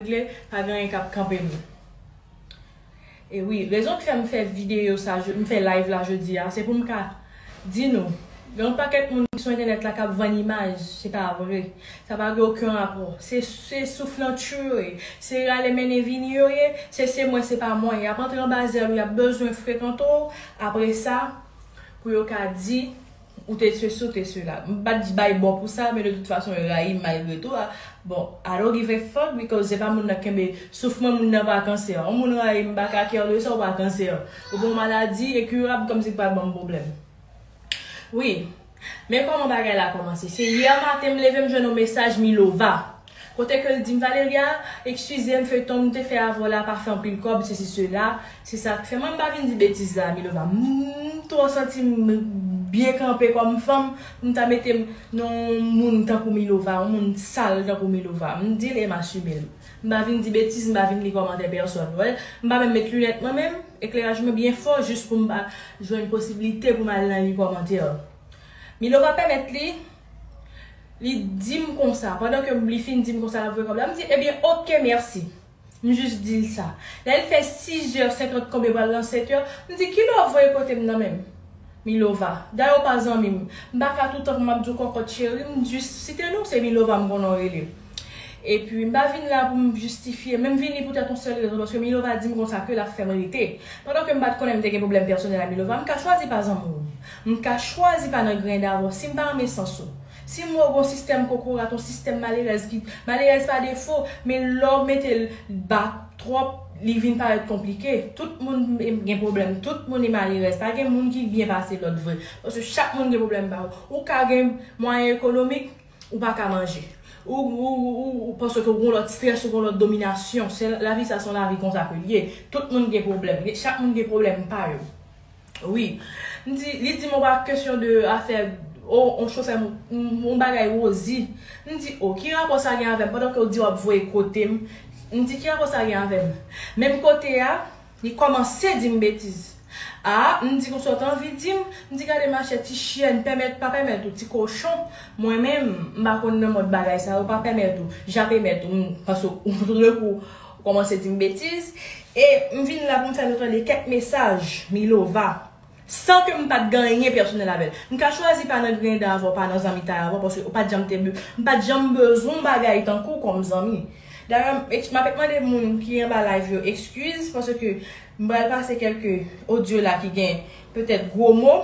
regle pa gen anyen kap kanpe nou e wi rezon ki fèm fè video sa m fè live la jodi a se poum ka di nou gen yon pakèt moun ki sou entènèt la kap vann imaj se pa vre sa pa gen oken rapò se se souflantyou yo ye se rale mennen vini yo ye se se mwen se pa mwen yap antre anba zèl ou yap bezwen frekante w apresa pou yo ka di Ou te ceci ou te cela. M pa t bay bò pou sa men de tout fason yo rayi m malgre tou a. Bon, I don't give a fuck because se pa moun nan k kenbe souf mwen moun nan pa kansè. On moun rayi m m pa ka care de sa ou pa kansè. Ou gon maladi incurable kòmsi k pa ban m pwoblèm. Wi. Men kòman bagay la kòmanse. Se yè maten m leve m jwenn on mesaj Milova. Kote ke l di m Valeria, ekskuze m feyton m te fè avè w la pa fè anpil kòb sesi sela, se sa k fè mwen m pa vin di betiz la Milova m twò santi m byen kanpe kòm fanm pou m ta mete m nan yon moun tankou Milova, yon moun sal tankou Milova m di l e m asime l m pa vin di betiz m pa vin li kòmantè pèsòn w wè m pa menm met linèt mwen menm ekleraj mwen byen fò jis pou m pa jwenn posiblite pou m al nan li kòmantè Milova pèmèt li. Li dim konsa, pandan ke li fin dim konsa lap voye kob la, m di ebyen ok merci. M jis dil sa. Lè l fè 6 heures 50 kob yo pral nan 7 heures, m di kilè wap voye pote m nan menm? Milova, dayè w pa zanmi m, m pa ka toutan pou map di w kòkòt cheri, m jis site non, se Milova m konnen w rele. Epi m pa vin la pou m jistifye, men m vini poutèt yon sèl rezon, paske Milova dim konsa ke lap fè m rete. Pandan ke m pat konnen m te gen pwoblèm pèsonèl a Milova, m ka chwazi pa zanmi w. M ka chwazi pa nan grenn avè w si m pa renmen sans ou. Si m wè w gen yon sistèm kokorat, yon sistèm malerèz ki, malerèz pa defo, men lè w mete l ba twòp, li vin parèt konplike. Tout moun gen pwoblèm, tout moun e malerèz. Pa gen moun ki byen pase lòt vre. Paske chak moun gen pwoblèm pa yo. Ou ka gen mwayen ekonomik, ou pa ka manje. Ou, ou, ou, ou, paske gen yon lòt strès, gen yon lòt dominasyon. Se, lavi sa se yon lavi konsa ke l ye. Tout moun gen pwoblèm. Chak moun gen pwoblèm pa yo. Wi. M di, li di m on pa kesyon de afè o on chofè m on bagay Rozi. M di o, ki rapò sa gen avè m pandan ke w di w ap voye kote m? M di ki rapò sa gen avè m? Menm kote a, li kòmanse di m betiz. A, m di konsa w te anvi di m? M di gade machè ti chyèn, pèmèt pa pèmèt ou, ti kochon, mwen menm m pa konn nan mòd bagay sa yo, pa pèmèt ou, jape mèt ou, m panse w, tout d'un coup, Ou kòmanse di m betiz e m vin la pou m fè nou tande kèk mesaj Milova san ke m pa t gen anyen pèsonèl avè l. M ka chwazi pa nan griyen dan avè w, pa nan zanmitay avè w paske ou pa t janm te m pa t janm bezwen yon bagay tankou w kòm zanmi. Dayè m eks m apèk mande moun ki anba live yo ekskiz paske m pral pase kèlke odyo la ki gen petèt gwo mo.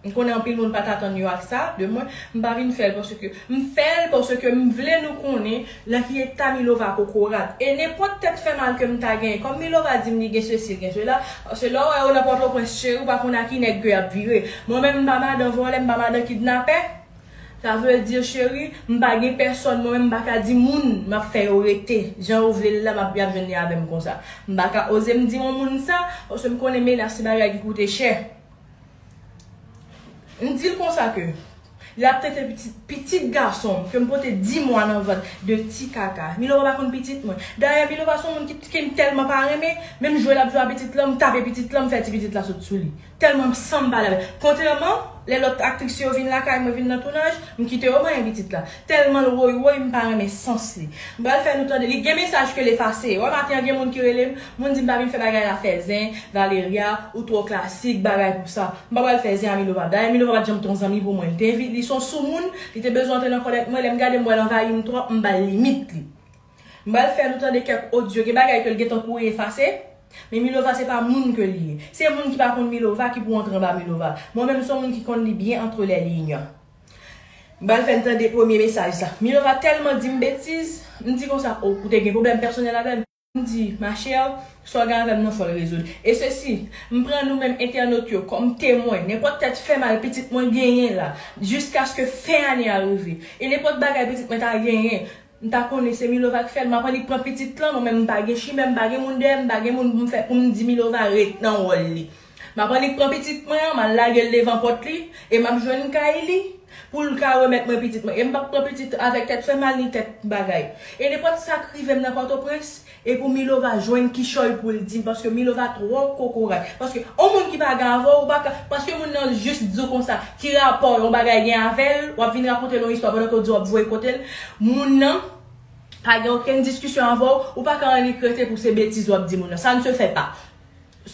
M konnen anpil moun pat atann yo ak sa de mwen, m pa vin fèl paske m fèl paske m vle nou konnen nan ki eta Milova kokorat e nenpòt tèt fè mal ke m ta genyen kòm Milova di m li gen sesi li gen sela paske lè w wè yo nan pòtoprens cheri w pa konn a ki nèg ke yap vire mwen menm m pa madan vòlè m pa madan kidnapè sa vle di cheri m pa gen pèsòn mwen menm m pa ka di moun map fè yo rete jan yo vle l la map yap jwenn li avè m konsa m pa ka oze m di yon moun sa paske m konnen menas se bagay ki koute chè. M di l konsa ke lè ap tete pitit, pitit gason m ke m pote di mwa nan vant de ti kaka. Milo pa pa konn pitit mwen. Dayè Milo pa son moun ki ke m tèlman pa renmen, menm jwe l ap jwe a pitit lan m tape pitit lan m fè ti pitit la sot sou li. Tèlman m san m pale avè l. Kontrèman, lè lòt aktris yo vin lakay mwen vin nan tounaj, m kite yo manyen pitit la. Telman l woy woy m pa renmen sans li. M pral fè nou tande li gen mesaj ke l efase. Wè maten an gen moun ki rele m, moun di m pa vin fè bagay la fè zen, Valeria, ou twò klasik, bagay pou sa. M pa pral fè zen a Milova. Dayè Milova pat janm t on zanmi pou mwen. L te envi, li s on soumoun, li te bezwen antre nan kòlèt mwen, lè m gade m wè l anvayi m twòp, m ba l limit li. M pral fè nou tande kèk odyo, gen bagay ke l gentan kouri efase, men Milova se pa moun ke li ye. Se moun ki pa konn Milova ki pou antre anba Milova. Mwen menm m s on moun ki konn li byen antre lè liy. M pral fè n tande premye mesaj sa. Milova tèlman di m betiz. M di konsa, O, ou te gen pwoblèm pèsonèl avè m? M di, Ma chère, sa w gen avè m nan fò l rezoud. E sesi, m pran nou menm entènot yo kòm temwen, nenpòt tèt fè mal pitit mwen genyen la, jiskaske fen ane a rive. E nenpòt bagay pitit mwen ta genyen, m ta konnen se Milova k fè l. M ap annik pran pitit lan, mwen menm m pa gen chimè, m pa gen moun dèyè m, m pa gen moun pou m fè pou m di Milova ret nan wòl li. M ap annik pran pitit mwen an, m al lage l devan pòt li, e m ap jwenn kay li, pou l ka remèt mwen pitit mwen. E m p ap pran pitit avèk tèt fè mal ni kèk bagay. E nenpòt sa k rive m nan Pòtoprens, e pou Milova jwenn kichòy pou l di m, paske Milova twò kokorat. Paske yon moun ki pa gen avè w, ou pa ka, paske moun nan jis di w konsa, ki rapò yon bagay gen avè l, w ap vin rakonte l yon istwa pandan ke w di w ap voye kote l. Moun nan pa gen okenn diskisyon avè w, ou pa ka annik rete pou se betiz w ap di moun nan. Sa n se fè pa.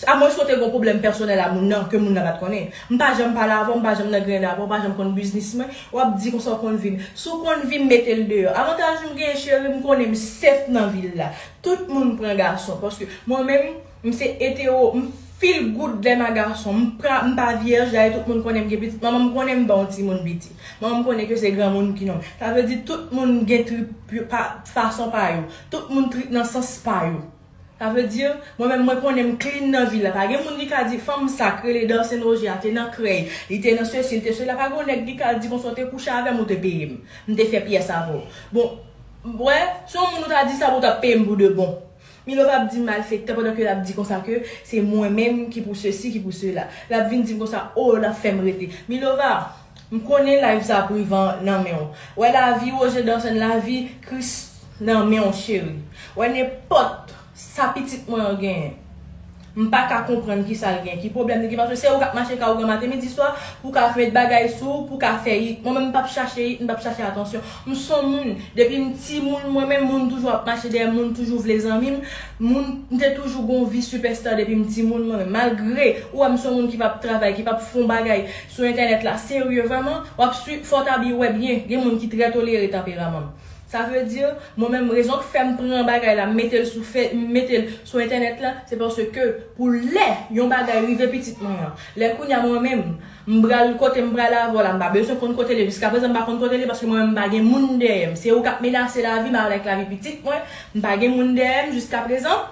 A mwens ke w te gen yon pwoblèm pèsonèl a moun nan, ke moun nan pa t konnen. M pa janm pale avè w, m pa janm nan griyen avè w, ou pa janm konn biznis mwen, w ap di konsa w konn vi m. Si w konn vi m, mete l deyò. Avantaj m genyen cheri, m konnen m sèf nan vil la. Tout moun pran gason. Paske mwen menm, m se etero, m feel good lè m a gason. M pa, m pa vyèj, dayè tout moun konnen m gen pitit. Manman m konnen m ban yon timoun piti. Manman m konnen ke se granmoun ki nonm. Sa vle di tout moun gen trip yo pa, fason pa yo. Tout moun trip nan sans pa yo. Sa vle di, mwen menm mwen konnen m clean nan vil la. Pa gen moun ki ka di fanm sa k rele Darcene Roger a te nan krèy, li te nan sesi, li te sela. Pa gen yon nèg ki ka di konsa w te kouche avè m ou te peye m. M te fè pyès avè w. Bon, w wè, si yon moun ou ta di sa pou ou t ap peye m pou de bon. Milo p ap di malfektè pandan ke l ap di konsa ke se mwen menm ki pou sesi, ki pou sela. L ap vin di m konsa, o, l ap fè m rete. Milova! M konnen live sa privan nan menw wè lavi Roger Dawson lavi Christ nan menw cheri wè nenpòt sa pitit mwen an genyen m paka konprann kisal gen ki pwoblèm li gen paske se ou kap mache ka ougan maten midi swa pou ka met bagay sou ou pou ka fè it mwen menm m pap chache it m pap chache atansyon m son moun depim timoun mwen menm moun toujou ap mache dèyèm moun toujou vle zanmim moun m te toujou gon vi sipèsta depim timoun mwen menm malgre ou wèm son moun ki pap travay ki pap fon bagay sou entènèt la serye vrèman wap swiv fò ta byen wè byen gen moun ki trè tolere tanperaman m sa vle di mwen menm rezon k fèm pran bagay la m mete l sou fe m mete l sou entènèt la se paske pou lè yon bagay rive pitit mwen an lè kounya mwen menm m pral kote m prale avè w la m pa bezwen konn kote l ye jiskaprezan m pa konn kote l ye paske mwen menm m pa gen moun dèyè m se ou kap menase lavi m avèk lavi pitit mwen m pa gen moun dèyè m jiskaprezan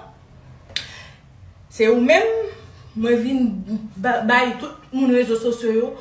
Se ou menm mwen vin bay tout moun rezo sosyo yo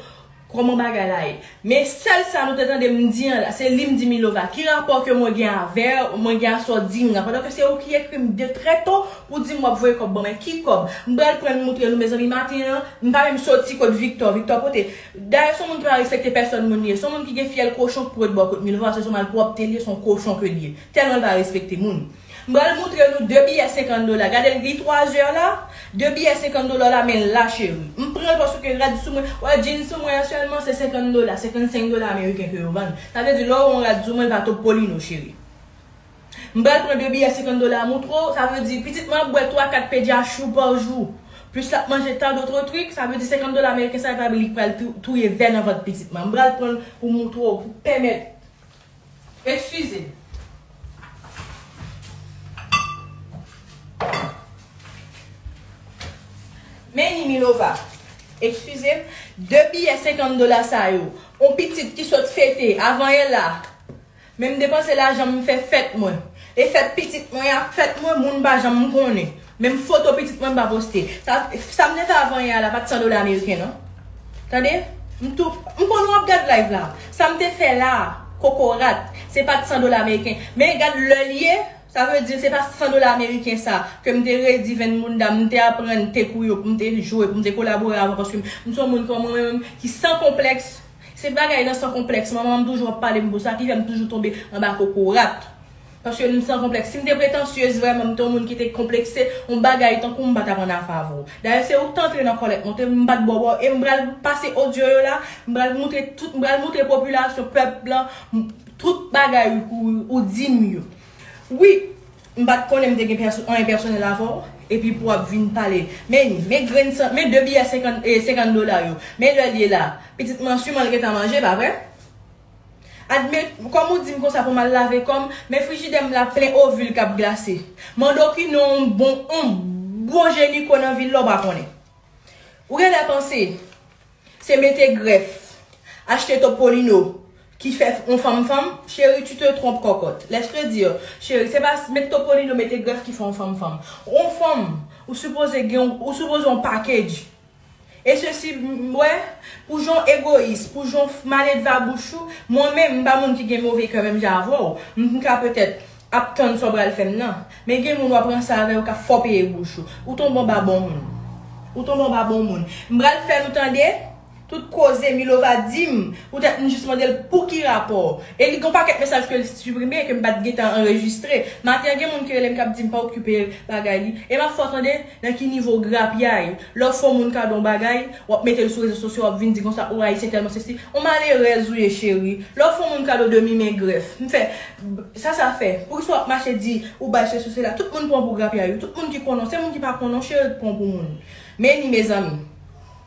kòman bagay la ye. Men sèl sa nou te tande m di an la, se li m di Milova, ki rapò ke mwen gen avè w, mwen gen a sa w di m nan, pandan ke se ou ki ekri m de trè to pou di m w ap voye kòb ban mwen, ki kòb? M pral pran m moutre nou mezanmi maten an, m pa menm soti kot Viktò, Viktò pote, dayè s on moun ki pa respekte pèsòn moun li ye, s on moun ki gen fyèl kochon k pwet bò kot Milova, se s on malpwòpte li ye, s on kochon ke li ye, tèlman l pa respekte moun. M pral moutre nou de biyè 50 dola gadel li 3 heures la de biyè 50 dola la men la cheri m pranl paske rad sou mwen wè djin sou mwen an sèlman se 50 dola 55 dola ameriken ke yo vann sa vle di lè ou wè yon rad sou mwen l pa topolino cheri m pral pran de biyè 50 dola a moutre w sa vle di pitit mwen ap bwè 3 4 pe dja chou pa jou plis lap manje tan dotre trik sa vle di 50 dola ameriken sa epa li k pral touye vè nan vant pitit mwen m pral pranl pou m moutre w pou pèmèt Ekskize m. Meni Milova, Ekskize m, de biyè senkant dola sa yo, on pitit ki sot fete avan yè la. Men m depanse lajan m fè fèt mwen. E fèt pitit mwen ak fèt mwen moun pa janm konnen. Menm foto pitit mwen m pa poste. Sa m te fè avan yè a la pa t 100 dola ameriken non. Tande! M tou M konnen w ap gad live la. Sa m te fè la a, kokorat, se pa t 100 dola ameriken. Men gad lè l ye, sa vle di se pa 100 dola ameriken sa ke m te redi venn bounda m, m te aprann te kou yo pou m te jwe, pou m te kolabore avan paske m se yon moun kòman mwen menm ki san konplèks. Se bagay nan san konplèks manman m toujou ap pale m pou sa ki fè m toujou tonbe anba kokorat. Paske m san konplèks. Si m te pretansyez vrèman, m te yon moun ki te konplekse, yon bagay tankou m pa t ap an afe avè w. Dayè se ou k te antre nan kòlèt mwen, m pa t bo bò e m pral pase odyo yo la, m pral moutre tout, m pral moutre popilasyon, pèp lan, tout bagay ou di m yo. Wi, m pa t konnen m te gen anyen pèsonèl avè w, epi pou w ap vin pale. Men, men grenn san, men de biyè senkann dola yo. Men lè l ye la. Pitit m an su m al gentan manje, pa vre? Admet, kòm ou di m konsa pou m al lave kò m, men frijidè m la plen ovil k ap glase. Mande w ki non yon bon yon bon jenyiko nan vil la w pa konnen. Ou gen lè panse se mete grèf, achte topolino ki fè yon fanm fanm? Cheri tu te trompes cocotte. Laisse te dire, cheri se pa mete topolino, mete grèf ki fè yon fanm fanm. Yon fanm ou sipoze gen yon, ou sipoze yon package. E sesi m wè, pou jan w egoyis, pou jan w maledva bouch ou, mwen menm, m pa moun ki gen move kè menm jan avè w, m ka petèt ap tann sa w pral fè m nan. Men gen moun w ap ranse avè yo k ap fòpeye bouch ou. Ou tonbe anba bon moun. Ou tonbe anba bon moun. M pral fè nou tande tout koze Milova di m poutèt m jis mande l pou ki rapò. E li gen yon pakèt mesaj ke l siprime, ke m pa t gentan anrejistre. Maten an gen moun ki rele m k ap di m pa okipe bagay li. E m ap fè w tande. Nan ki nivo grapyay? Lè w fè yon moun kado yon bagay, w ap mete l sou rezo sosyo, w ap vin di konsa, ou Ayisyen tèlman sesi. On malerèz ou ye cheri. Lè w fè yon moun kado demi men grèf. M fè, Sa sa fè? Poukisa w ap mache di ou bay sesi ou sela? Tout moun pran w pou grapyay wi. Tout moun ki konnen w. Se moun ki pa konnen w cheri k pran w pou moun. Men ni mezanmi.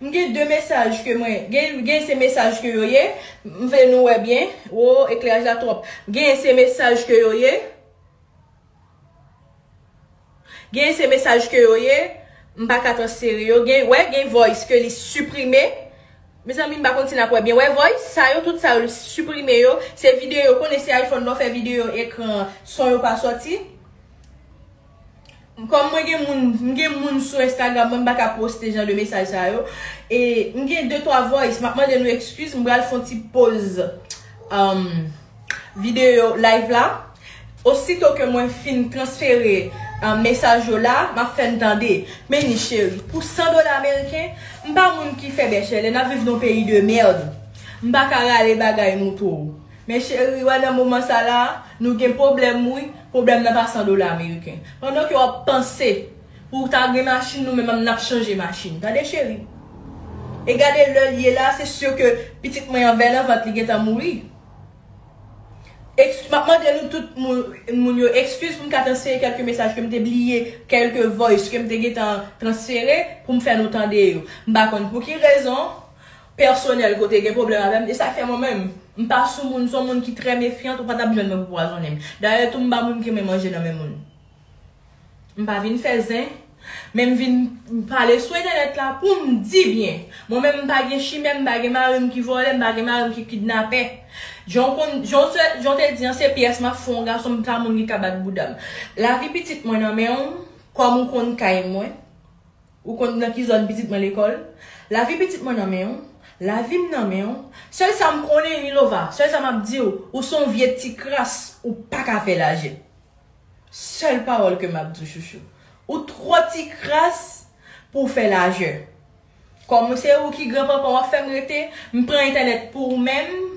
M gen 2 mesaj ke mwen gen se mesaj ke yo ye m vle nou wè byen ooh ekleraj la twòp gen se mesaj ke yo ye gen se mesaj ke yo ye m pa ka transfere yo gen wè gen voice ke li siprime mezanmi m pa konn si nap wè byen wè voice sa yo tout sa yo li siprime yo se videyo konnen se iphone lè w fè videyo ekran son yo pa sòti. M kòm mwen gen moun m gen moun sou Instagram mwen m paka poste jan de mesaj sa yo e m gen de twa voice map mande nou ekskiz m pral fon ti poz video live la osito ke mwen fin transfere mesaj yo la map fè n tande Meyni cheri pou 100 dola ameriken m pa moun ki fè bèche lè nap viv nan yon peyi de merd m paka rale bagay nou pou ou Men cheri wè nan moman sa la a, nou gen pwoblèm wi, pwoblèm nan pa 100 dola ameriken. Pandan ke wap panse pou w ta gen machin nou menm nap chanje machin. Tande cheri. E gade lè l ye la, se sur ke pitit mwen an bè nan vant li gentan mouri. Ekz, map mande nou tout moun yo ekskiz pou m ka transfere kelke mesaj ke m te bliye, kelke voice ke m te gentan transfere pou m fè nou tande yo. M pa konn pou ki rezon. pèsonèl ke w te gen pwoblèm avè m, e sa k fè mwen menm, m pa sou moun, m se yon moun ki trè mefyant, ou pa t ap jwenn mwen pou pwazonnen m. Dayè tou m pa moun ki renmen manje nan men moun. M pa vin fè zen, men m vin pale sou entènèt la pou m di byen. Mwen menm m pa gen chimè, m pa gen mari m ki vòlè, m pa gen mari m ki kidnapè. Jan w konn, jan w se, jan w te di an, se pyès m ap fè yon gason, m pa moun ki ka bat bouda m. Lavi pitit mwen nan men w, kòm ou konn kay mwen. Ou konn nan ki zòn pitit mwen lekòl? Lavi pitit mwen nan men w. Lavi m nan men w. Sèl sa m konnen, Milova, sèl sa m ap di w, ou s on vye ti kras, ou pa ka fè lajè. Sèl pawòl ke m ap di w, chouchou. Ou twò ti kras pou w fè lajè. Kòm se ou ki gran panpan w ap fè m rete, m pran entènèt pou ou menm.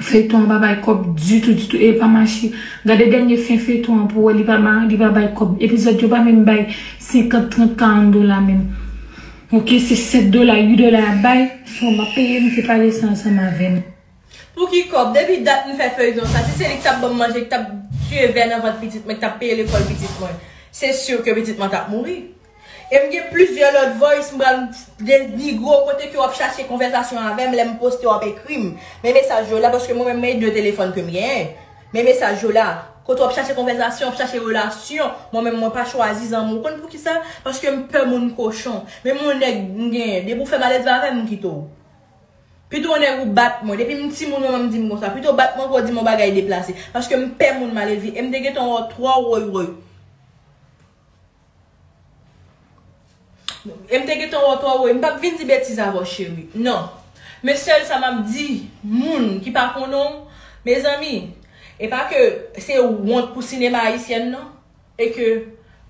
Feyton an pa bay kob ditou ditou e pa mache gade denye fen feyton an pou wè li pa li pa bay kob epizod yo pa menm bay 50 30 40 dola menm ok se 7 dola 8 dola yap bay so map peye misye pale sa ansanm avèm. Pou ki kob? Depi dat m fè feuilleton sa si se li ki tap banm manje ki tap tuye vè nan vant pitit mwen ki tap peye lekol pitit mwen se sur ke pitit mwen tap mouri. E m gen plizyè lòt voice m pral denigre w kote ke w ap chache konvèsasyon avè m lè m poste w ap ekri m men mesaj yo la paske mwen menm men 2 telefòn ke m genyen men mesaj yo la kote w ap chache konvèsasyon w ap chache relasyon mwen menm mwen pa chwazi zanmi w konn poukisa paske m pè moun kochon menm yon nèg m genyen depi w fè maledve avè m m kite w pito yon nèg ou bat mwen depi m timoun manman m di m konsa pito w bat mwen ke w di m yon bagay deplase paske m pè moun maledve e m te gentan wè w twò woywoy. Em te gentan wè w twò wo e m pap vin di betiz avè w cheri nan men sèl sa map di moun ki pa konnen w mezanmi e pa ke se wont pou sinema ayisyèn nan e ke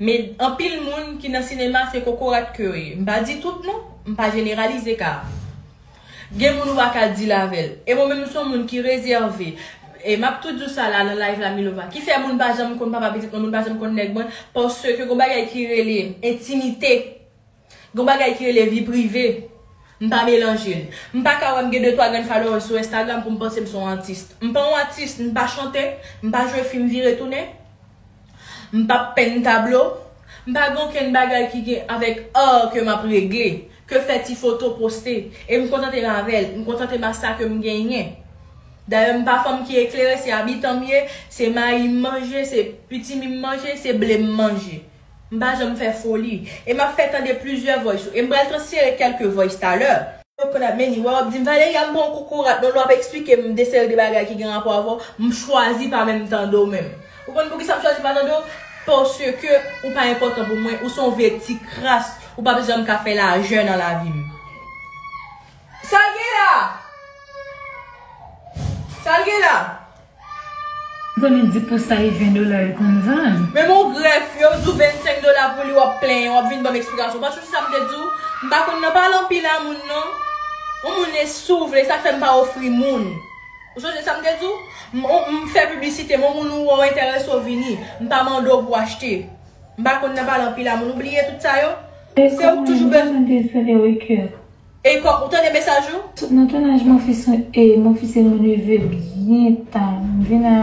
me anpil moun ki nan sinema se kokorat ke yo ye m pa di tout non m pa jeneralize ka Gen moun ou pa ka deal avèl. E mwen menm m son moun ki rezève. E map tou di w sa la nan live la Milova. Ki fè moun pa janm konn papa pitit mwen, moun pa janm konn nèg mwen, paske gon bagay ki rele entimite, gon bagay ki rele vi prive, m pa melanje l. M pa ka wè m gen 2 3 grenn followers sou Instagram pou m panse m son atis. M pa yon atis, m pa chante, m pa jwe fim vire tounen. M pa p penn tablo, m pa gen okenn bagay ki gen avèk ar ke m ap regle, ke fè ti foto poste, e m kontante m avè l, m kontante m a sa ke m genyen. Dayè m pa fanm ki eklere, se abitan m ye, se mayi m manje, se pitimi m manje, se ble m manje. M pa janm fè foli. E m ap fè tande plizyè voice ou, e m pral transfere kèlke voice talè. Ou konn ap menni, wè w ap di m, Valeria m pa yon kokorat non, lè w ap esplike m de seri de bagay ki gen rapò avè w, m chwazi pa menm tande w menm. Ou konn poukisa m chwazi pa tande w? Paske ou pa enpòtan pou mwen, ou se yon vye ti kras, ou pa bezwen m ka fè lajè nan lavi m. Sa l gen la? Sa l gen la? M konnen di pou sa e 20 dola yo konn vann. Menm yon grèf, yo di w 25 dola pou li w ap plenyen, w ap vin ban m eksplikasyon. Paske se sa m te di w, m pa konn nan pale anpil a moun non. Yon moun e si w vle, sa k fè m pa ofri moun. Ou sonje sa m te di w? M on m fè piblisite m on moun ou on entèrese w vini. M pa mande w pou w achte. M pa konn nan pale anpil a moun. Ou bliye tout sa yo? Se ou k toujou bezw. Ekòk mwen m bezwen de Riker. Ekòk, ou tande mesaj ou? Sot nan tounaj mwen fis m e mwen fis e mwen leve byen ta. M vin a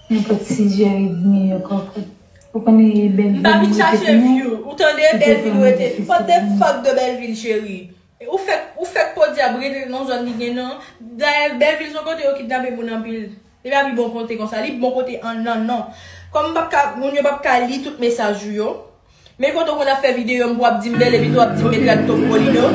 nenpòt sizèr edmi yo kòkòt. Ou konnen e Bèlvil m rete tounen. M pa vin chache view ou tande Bèlvil rete. Fuck the fuck de Bèlvil cheri. Ou fèk ou fèk podyab rete nan zòn li gen nan. Dayè Bèvil son kote yo kidnape moun anpil. Li pa pi bon kote konsa. Li bon kote an nan non. Kòm m pap ka moun yo pap ka li tout mesaj ou yo. Men kote w konn ap fè videyo m pou w ap di m bèl epi tou w ap di m mèt Radtop Molino.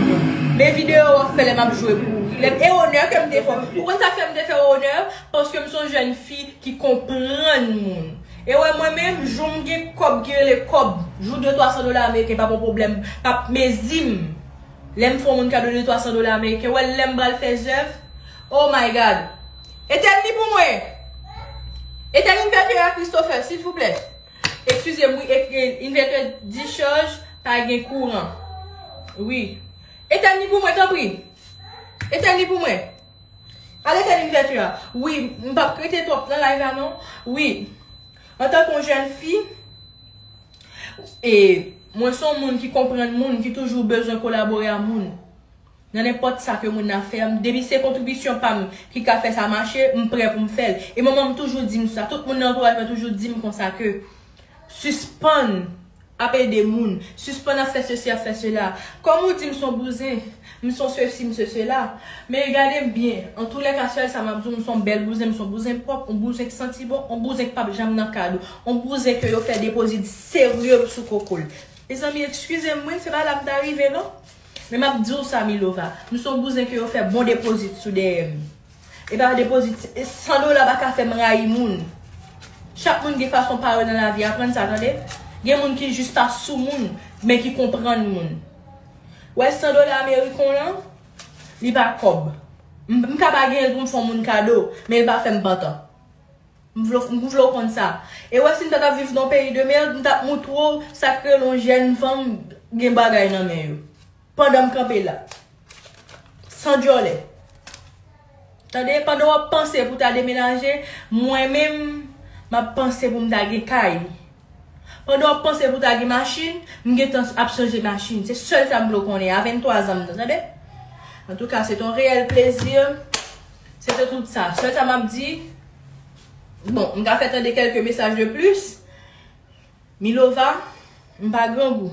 Men videyo w ap fè lè m ap jwe pou ou. Lè m e onè ke m te fè w. Ou konn sa k fè m te fè w onè? Paske m son jèn fi ki konprann moun. E wè mwen menm, jou m gen kòb ki rele kòb, jou de twa san dola ameriken pa p yon pwoblèm, pa p mezi m, lè m fè yon moun kado de twa san dola ameriken, wè lè m pral fè zèv, oh my God! Etèn li pou mwen! Etèn Inverter a Christopher, silvouplè! Ekskize m wi, Inverter discharge, pa gen kouran. Wi. Etèn li pou mwen tanpri! Etèn li pou mwen! Ale tèt inivètu a. Wi, m pap k rete twòp nan live la non. Wi, antanke yon jèn fi, e mwen son moun ki konprann moun, ki toujou bezwen kolabore a moun. Nan nenpòt sa ke moun nan ap fè, depi se kontribisyon pa m ki ka fè sa mache, m prè pou m fè l. E manman m toujou di m sa, tout moun nan antouraj mwen toujou di m konsa ke, sispann Ap ede moun. Sispann ap fè sesi ap fè sela. Kòm ou di m son bouzen. M son sesi m se sela. Men gade m byen. Antoulèka sèl sa m ap di w m son bèl bouzen m son bouzen pwòp on bouzen k santi bon on bouzen k pap janm nan kad on bouzen ke yo fè depozit serye sou koko l. Mezanmi ekskize m wi se pa la m ta rive non. Men m ap di w sa Milova. M son bouzen ke yo fè bon depozit sou dèyè m. E pa de pozit. 100 dola pa ka fèm rayi moun. Chak moun gen fason pa yo nan lavi. Aprann sa tande. Gen moun ki jis ta sou moun. Men ki konprann moun. Wè 100 dola ameriken w lan. Li pa kòb. M ka pa genyen l pou m fè yon moun kado. Men l pa fèm pantan. M vle w konn sa. E wè si m pa tap viv nan yon peyi de merd. M tap moutre w sa k rele yon jèn fanm gen bagay nan men yo. Pandan m kanpe la. San dyòlè. Tande, pandan w ap panse pou w ta demenaje, mwen menm, m ap panse pou m ta gen kay. Pandan w ap panse pou w ta gen machin, m gen tan ap chanje machin. Se sèl sa m vle w konnen a 23 zan m nan, tande. Antouka, se te yon reyèl plezi. Se te tout sa. Sèl sa m ap di, bon, m ka fè tande kèlke mesaj de plis. Milova, m pa grangou.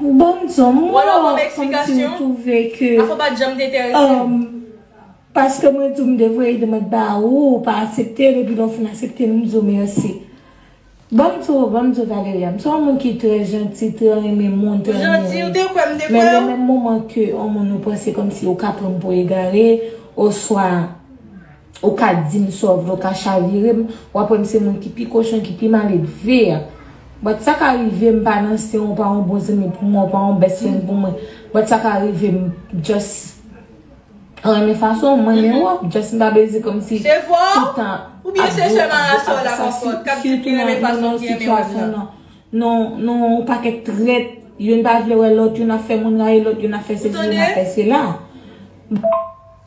Bon Dieu, mwen konn si ou twouve ke um, paske mwen di ou m te voye demand ba ou, ou pa asepte l epi lè ou fin asepte l m di ou mèsi. Bon m di ou, bon m di ou Valeria, m se yon moun ki trè janti, trè renmen moun, trè renmen ri. Men gen menm moman ke yon moun ou panse kòmsi ou ka pran m pou egare oswa. Ou ka dim sa w vle, w ka chavire m, w ap wè m se moun ki pi kochon, ki pi maledve a. But sa ka rive m pa nan se w, w pa yon bon zanmi pou mwen, w pa yon best friend pou mwen. But sa ka rive m just renmen fason w, m renmen w, just m pa vle di kòm si tout tan nou yon pakèt trèt, youn pa vle wè lòt, youn ap fè moun rayi lòt, youn ap fè sesi, youn ap fè sela.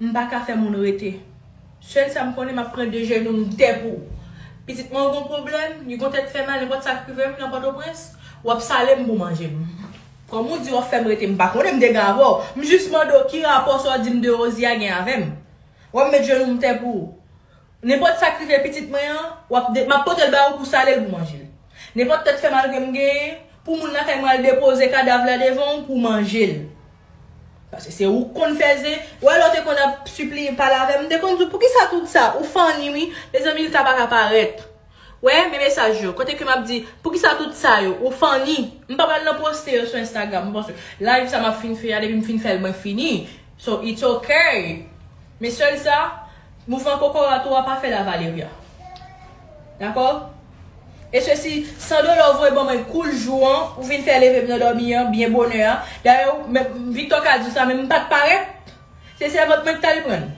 M pa ka fè moun rete. Sèl sa m konnen m ap pran de jenou m dè pou ou. Pitit mwen ou gon pwoblèm, li gon tèt fè mal nenpòt sa k rive m nan Pòtoprens, w ap sale m pou w manje m. Kòm ou di w ap fè m rete m pa konnen m dega avè w. M jis mande w ki rapò sa w di m de Rosia gen avè m. W ap met jenou m tè pou ou. Nenpòt sa k rive pitit mwen an, w ap de, m ap pote l ba ou pou sale l pou manje l. Nenpòt tèt fè mal ke m genyen, pou moun lakay mwen al depoze kadav la devan ou pou w manje l. Paske se ou k konn fè zen, wè lè w te konn ap sipliye pale avè m, m te konn di w poukisa tout sa, ou funny wi, mezanmi l ka pa ka parèt. Wè, men mesaj yo, kote ke m ap di, poukisa tout sa yo, ou funny. M pa pral nan poste yo sou Instagram non paske live sa m ap fin fè a depi m fin fè l mwen fini, so it's ok. Men sèl sa, Mouvman kokorat ou a pa fè la Valeria. Dakò? E sesi, san dolo ou voye ban mwen kou l jou an, ou vin fè leve m nan dòmi an, byen bonè a. Dayè ou, men, Victor ka di w sa men m pa t parèt. Se sèvant mwen ki t al pran l.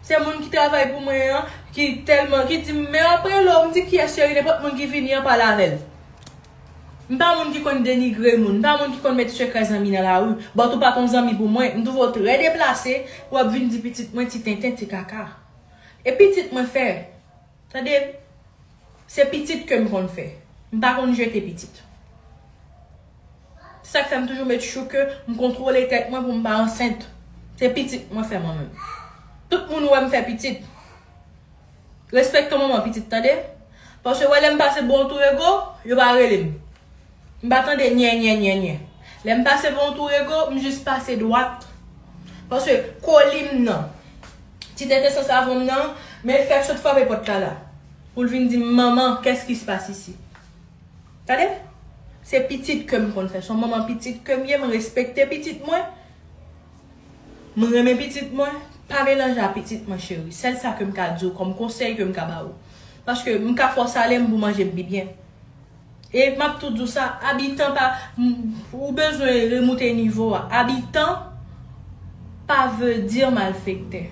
Se moun ki travay pou mwen an ki tèlman, ki di m men apre l o, m di kiyès cheri, nenpòt moun ki vini an pale avè l. M pa moun ki konn denigre moun, m pa moun ki konn met sekrè zanmi nan lari, but ou pa t on zanmi pou mwen, m twouve w trè deplase pou w ap vin di pitit mwen ti tenten, ti kaka. E pitit mwen fè? Tande, se pitit ke m konn fè. M pa konn jete pitit. Se sa k fè m toujou make sure ke m kontwole tèt mwen pou m pa ansent. Se pitit mwen fè mwen menm. Tout moun wè m fè pitit. Respekte manman pitit tande. Paske wè lèm pase bon tou rego, yo pa relem. M pa tande nyè nyè nyè nyè. Lèm pase bon tou rego, m jis pase dwat. Paske kolim nan, ti tenten san savon m nan, men fèk sot frape pòt la la. Poul vin dim manman kès ki se pase isi. Tande. Se pitit kem konn fè. Son manman pitit kem ye, m respekte pitit mwen. M renmen pitit mwen, pa melanje a pitit mwen cheri, sèl sa kem ka diw kòm konsèy kem ka ba ou. Paske m ka fè w sale m pou manje bby byen. E map tou diw sa, abitan pa ou bezwen remoute nivo a, abitan pa veu dir malfektè.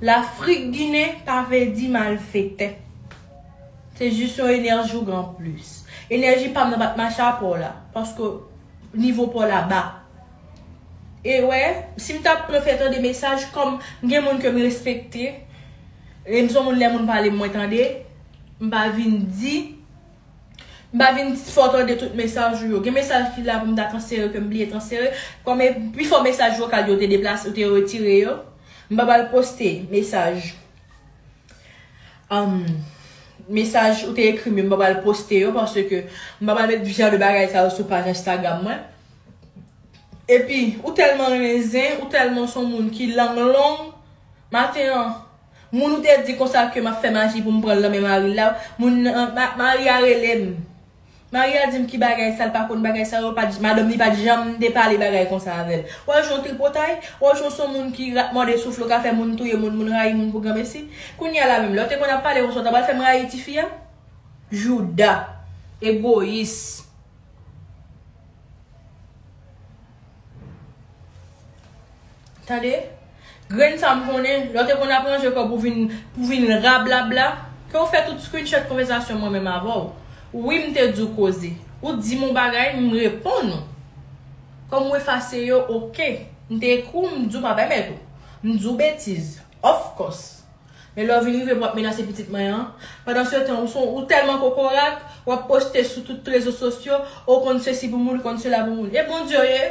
Lafrik ginen pa veu di malfektè. Se jus yon enèji ou gen an plus. Enèji pam nan pat mache a paw la, paske nivo paw la ba. E wè, si m ta pran fè tande mesaj, kòm m gen moun ke m respekte, e m son moun lè moun pale m mwen tande, m pa vin di, m pa vin fè w tande tout mesaj ou yo. Gen mesaj ki la pou m ta transfere ke m bliye transfere, kòm e pifò mesaj vokal yo te deplase, yo te retire yo. M pa pral poste mesaj, mesaj ou te ekri m yo, m pa pral poste yo paske m pa pral met jan de bagay sa yo sou paj Instagram mwen. Epi ou tèlman renmen zen, ou tèlman son moun ki lang long, maten an, moun ou te di konsa ke map fè maji poum pranl nan men maril la, moun nan, mari a relem, mari a dim ki bagay sa, l pa konn bagay sa yo, madanm li pat janm te pale bagay konsa avèl. Wè w jan tripotay, wè w jan w son moun ki rat mòde souf l ou ka fè moun touye moun, moun rayi moun pou granmesi. Kounya la menm, lè w te konn ap pale konsa w ta pral fèm rayi tifi a? Jouda! Egoyis! Tande, grenn sa m konnen, lè w te konn ap ranje kòb ou vin pou w vin rablabla, ke w fè tout screenshot konvèsasyon mwen menm avè w. Wi m te di w koze. Ou di m yon bagay, m reponn ou. Kòm ou efase yo, ok. M te ekri w, m di w pa pèmèt ou. M di w betiz. Of course. Men lè w vin rive m wap menase pitit mwen an, pandan se tan ou son ou tèlman kokorat, wap poste sou tout rezo sosyo, o w konn sesi pou moun, ou konn sela pou moun. E Bondye w ye?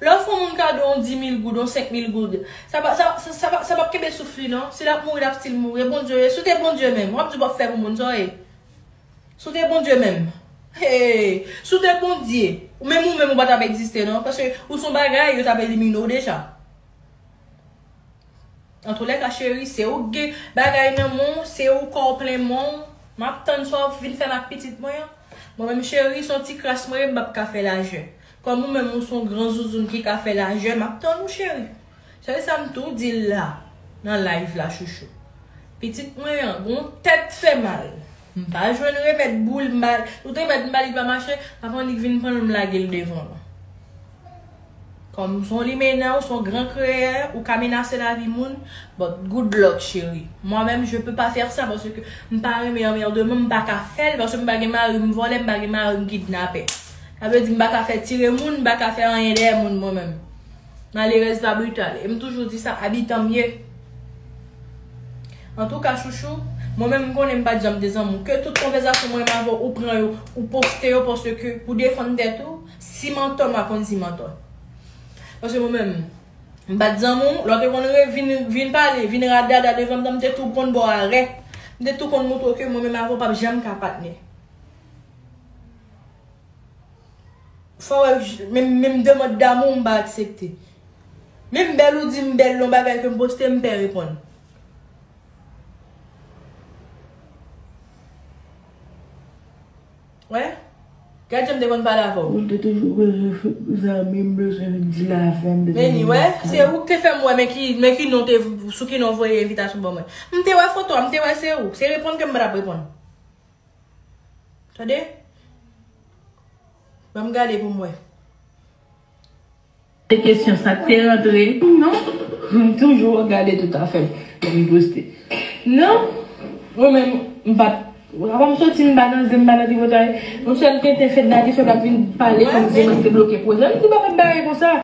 Lè w fè yon moun kado yon dimil goud, yon senkmil goud, sa pa sa pa sa pa sa pap kenbe souf li non. Si lap mouri lap stil mouri. E Bondye w ye? Si w te Bondye menm, wap di w pap fè pou moun, sa w ye? Si w te Bondye menm. Hee! Si w te Bondye, menm ou menm ou pa tap egziste non, paske ou son bagay yo tap elimine w deja. Antoulèka cheri se ou k gen bagay nan men w se ou kò w plen men w map tann sa w vin fè ak pitit mwen an mwen menm cheri son ti kras mwen ye m pap ka fè lajè kòm ou menm ou son gran zouzoun ki ka fè lajè map tann ou cheri sèl sa m tou di l la nan live la chouchou pitit mwen an gon tèt fè mal m pa jwenn remèd bou l m ba l tout remèd m ba li li pa mache avan li k vin pran l m lage l devan l. Kòm ou son limenna ou son gran kreyè ou ka menase lavi moun but good luck chérie moi menm je peux pas faire ça parce que m pa renmen anmèrdement m paka fèl paske m pa gen mari m vòlè m pa gen mari m kidnapè sa vle di m paka fè tire moun m paka fè anyen dèyè moun mwen menm malerèz pa brital e m toujou di sa abitan m ye antouka chouchou mwen menm m konnen m pat janm dezanmou ke tout konvèzasyon mwen avèw ou pran yo ou poste yo paske pou defann tèt ou. Si mantò mwen konn si mantò. Paske mwen menm m pat zanmi w, lè w te konn re vin vin pale, vin radada devan m nan m te tou konn ba w arè. M te tou konn montre w ke mwen menm avè w pap janm ka patnè. Fò wè menm menm demand damou w m pa aksepte. Menm bèl ou di m bèl yon bagay ke m poste m pè reponn. Wè Gad janm te konn pale avè w. Ou te toujou bezwen zanmi m bezwen vin di la avan m bezwen vin wè w. Se ou k te fè m wè men ki men ki non te sou ki non voye envitasyon ban mwen. M te wè foto a m te wè se ou. Se reponn ke m pa tap reponn. Tande. Banm gade pou m wè. Se kesyon sak te rantre non m toujou ap gade tout afem lè m poste non mwen menm m pat apa m soti m pa nan zen m pa nan tripotay m sel tenten fedna te fèm ap vin pale komsi mwen te bloke pwojè m di pa fè bagay konsa.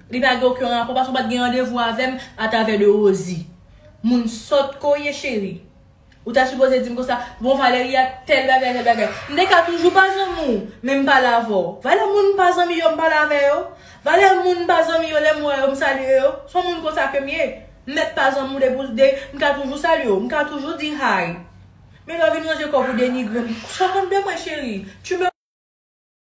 Li pa gen oken rapò paske ou pat gen randevou avèm atravè de Rosie. Moun sòt ke w ye cheri. Ou ta sipoze dim konsa, bon Valeria tèl bagay tèl bagay. M te ka toujou pa zanmi w, men m pale avè w. Valè moun m pa zanmi yo m pale avè yo. Valè moun m pa zanmi yo lè m wè yo m salye yo. Son moun konsa ke m ye. M mèt pa zanmi w depi w de, m ka toujou salye w, m ka toujou di hi. Men lè w vin ranje kò pou w denigre m, sou kont de mwen cheri. Tu me.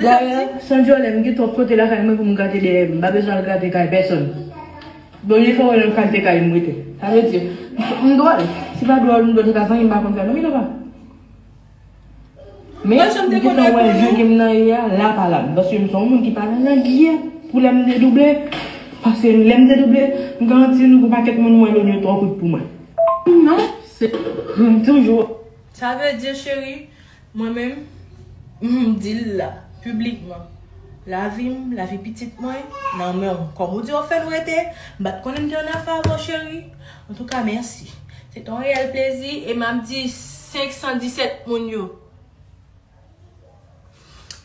Dayè, san dyòlè, m gen twòp kote lakay mwen pou m grate dèyè m. M pa bezwen al grate kay pèsòn. Bonye fè wè nan kalte kay m rete. Sa vle di, m dwòl. Si pa dwòl, m dwe te ka vanyen m pa konn sa non Milofa. Men, m gentan wè je ke m nan ye a la pa la m. Paske m se yon moun ki pa nan langiè pou lè m dedouble. Paske lè m dedouble, m garanti nou gon pakèt moun mwen lòd yo twò kout pou mwen. Sa vle di, cheri. Mwen menm, m di l la, piblikman, Lavi m, lavi pitit mwen, nan men w. Kòm ou di w fè m rete, m pa t konnen m gen yon afè avè w cheri. Antouka, mèsi. Se te yon reyèl plezi e m ap di 517 moun yo,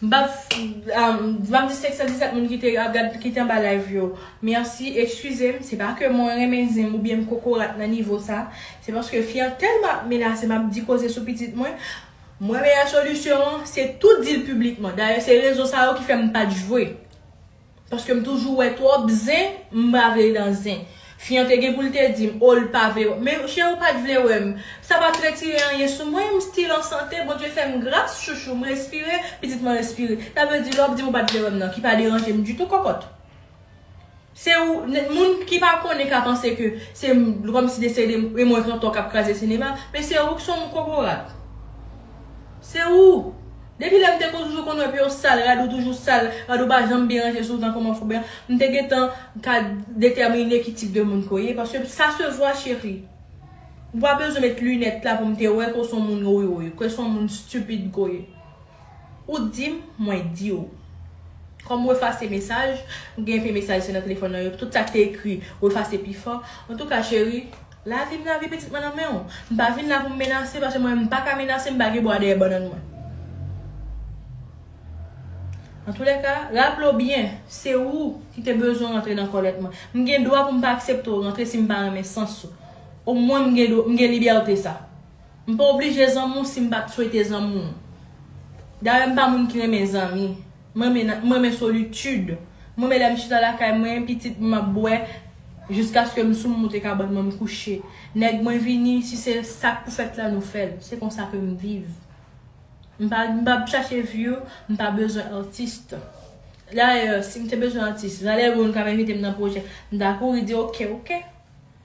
m pa p di 517 moun ki te ap gad, ki te anba live yo, mèsi. Ekskize m, se pa ke mwen renmen zen m oubyen m kokorat nan nivo sa. Se paske fi an tèlman ap menase m ap di koze sou pitit mwen, mwen meyè solisyon an se tou di l piblikman. Dayè se rezon sa yo ki fè m pa t jwe. Paske m toujou wè twòp zen, m pa vle nan zen. Fi an te gen pou l te di m, o l pa vle wè m. Men cheri ou pa t vle wè m. Sa pa t retire anyen sou mwen, m stil an sante, Bondye fè m gras chouchou, m respire, pitit mwen respire. Sa vle di lè w ap di m ou pa t vle wè m nan ki pa deranje m ditou kòkòt. Se ou, moun ki pa konnen ka panse ke se kòm si desè de Raymond Cantor k ap kraze sinema, men se ou k son kokorat. Se ou! Depi lè m te toujou konn wè pye w sal, rad ou toujou sal, rad ou pa janm byen ranje sou w tankou manfou blan, m te gentan ka detèmine ki tip de moun ke w ye, paske sa se vwa cheri. Ou pa bezwen met linèt la pou m te wè ke w son moun woywoy, ke w son moun stupid ke w ye. Ou dim mwen diw. Kòm ou efase mesaj, ou gen enpe mesaj se nan telefòn nan yo, tout sak te ekri ou efase pi fò, antouka cheri, lavim lavi pitit mwen nan menw, m pa vin la poum menase paske mwen menm m paka menase m pa gen bwa dèyè bannann mwen. Antoulèka, raplew byen, se ou ki te bezwen rantre nan kòlèt mwen. M gen dwa poum pa akseptew rantre sim pa renmen sans ou. Omwen m gen libète sa. M pa oblije zanmi w si m pa t swete zanmi w. Dayè m pa moun ki renmen zanmi. M renmen m renmen solitid. M renmen lè m chita lakay mwen, pitit m ap bwè jiskaske m sou m moute kabann mwen m kouche. Nèg mwen vini, si se sa k pou fèt la nou fè l. Se konsa ke m viv. M pa m pa chache view, m pa bezwen artist. Dayè si m te bezwen atis, valè Roon k ap envite m nan pwojè, m ta kouri di ok ok.